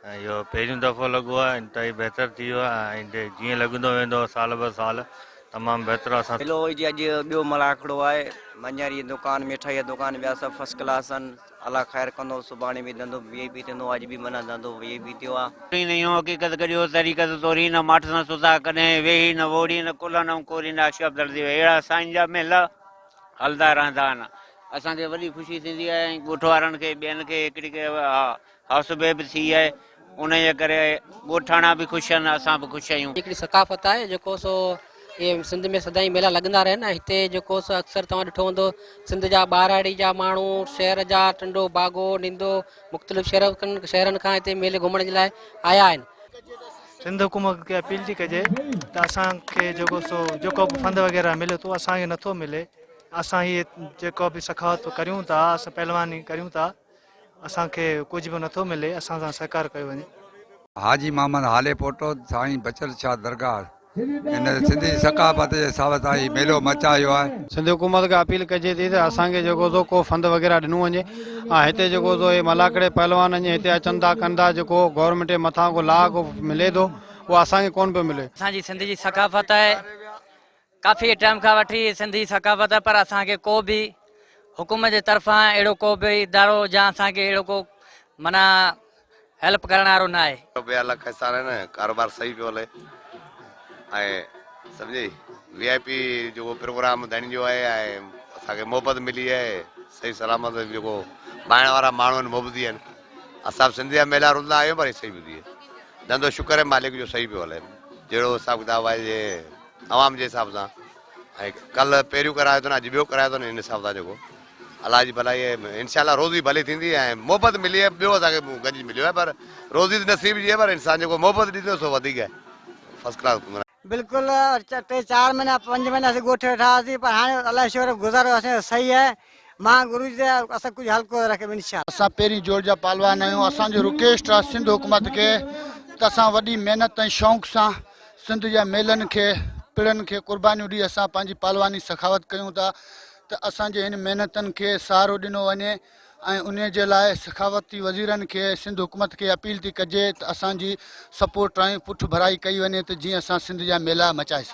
۽ اهو پهريون دفعو لڳو آهي انتهائي بهتر ٿي ويو آهي ۽ آئنده جيئن لڳندو ويندو سال به سال تمام بهتر اسان ٿيندو. هلو جي اڄ ٻيو ملاکڙو آهي مڃري جي دڪان مٺائي جا دڪان ٻيا سڀ فرسٽ ڪلاس آهن الله خير ڪندو سڀاڻي به ڌنڌو وي اي پي ٿيندو اڄ به معنيٰ ڌنڌو وي اي پي ٿيو آهي. ڪرين نه يون حقيقت گڏيو طريقت تورين نه ماٺ سان سڌا ڪڏهن ويهي نه ووڙين نه ڪلهن ائون ڪورين نه عاشق عبداللطيف ويهي اهڙا سائين جا مهل هلدا رهندا آهن اسان کي وڏي خوشي ٿيندي آهي ۽ ڳوٺ وارن کي ٻين کي هڪڙي کي ها هائوس به به ٿي آهي ان جي ڪري ڳوٺاڻا به خوش آهن اسان به خوش آهيون. هڪڙي ثقافت آهي جيڪو سو اهي سنڌ ۾ سدائين ميلا لڳندا رهن ۽ هتي جيڪو سو اڪثر توهان ڏٺو هوندو سنڌ جا ٻهراڙي جا ماڻهو شهر جا ٽنڊو باگو نندو مختلف شهرن شهرن کان هتي ميلي گهمڻ جي لاء آيا آهن. سنڌ حڪومت کي اپيل ٿي ڪجي ته اسان کي جيڪو سو جيڪو به فند وغيره ملي ٿو اسان کي نٿو ملي اسان هي جيڪو به سخاوت ڪريون ٿا اسان پهلواني ڪريون ٿا. اسان کي ڪجهه به نٿو ملي اسان سان سهڪار ڪيو وڃي. حاجي محمد هالي پوٽو سائين بچل شاهه درگاهه هن سنڌي ثقافت جي ساوت آهي ميلو مچايو آهي. سنڌ حڪومت کي اپيل ڪجي ٿي ته اسان کي جيڪو سو ڪو فند وغيره ڏنو وڃي ۽ هتي جيڪو سو هي ملاکڙي پهلوان اڃ هتي اچن ٿا ڪن ٿا جيڪو گورنمينٽ جي مٿان ڪو لاء ڪو ملي ٿو اهو اسان کي ڪون پيو ملي. اسان جي سنڌ جي ثقافت آهي ڪافي ٽيم کان وٺي سنڌي ثقافت پر اسان کي ڪو به حڪومت جي طرفان اهڙو ڪو به ادارو جا اسان کي اهڙو ڪو معنيٰ هيلپ ڪرڻ وارو نه آهي. ٽوپي وارا لک احسان آهن ڪاروبار صحيح پيو هلي ۽ سمجهي وي آء پي جيڪو پروگرام ڌڻين جو آهي ۽ اسان کي محبت ملي آهي صحيح سلامت جيڪو ڀائڻ وارا ماڻهو آهن محبتي آهن اسان به سنڌ جا ميلا روندا آهيون پر هي صحيح ٻڌي ڌنڌو شڪر آهي مالڪ جو صحيح پيو هلي جهڙو حساب ڪتاب آهي جي عوام جي حساب سان ۽ ڪل پهريون ڪرايو اٿن اڄ ٻيو ڪرايو اٿن ان حساب سان جيڪو الله جي ڀلائي انشاء الله روزي ڀلي ٿيندي ۽ محبت ملي ۽ ٻيو اسان کي گنج مليو آهي پر روزي ته نصيب جي آهي پر انسان جيڪو محبت ڏي ٿو سو وڌيڪ آهي فرسٽ ڪلاس بلڪل ٽي چار مهينا پنج مهينا اسين ڳوٺي ويٺا هئاسين پر هاڻي الله جو شڪر گذارو اسان جو صحيح آهي مان گروجي تي آيو اسان ڪجهه هلڪو رکي ٻن شال. اسان پهرين جوڙ جا پهلوان آهيون اسان جو رڪويسٽ آهي سنڌ حڪومت کي ته اسان وڏي محنت ۽ شونق سان سنڌ جا ميلن کي پڙن کي قربانيون ڏئي اسان پنهنجي پهلواني سخاوت ڪيون ٿا ته اسان جي هن محنتن کي سهارو ڏنو وڃي ۽ انهي جي لاء سخاوتي وزيرن کي سنڌ حڪومت کي اپيل ٿي ڪجي ته اسان جي سپورٽ ۽ پٺڀرائي ڪئي وڃي ته جيئن اسان سنڌ جا ميلا مچائي سگهون.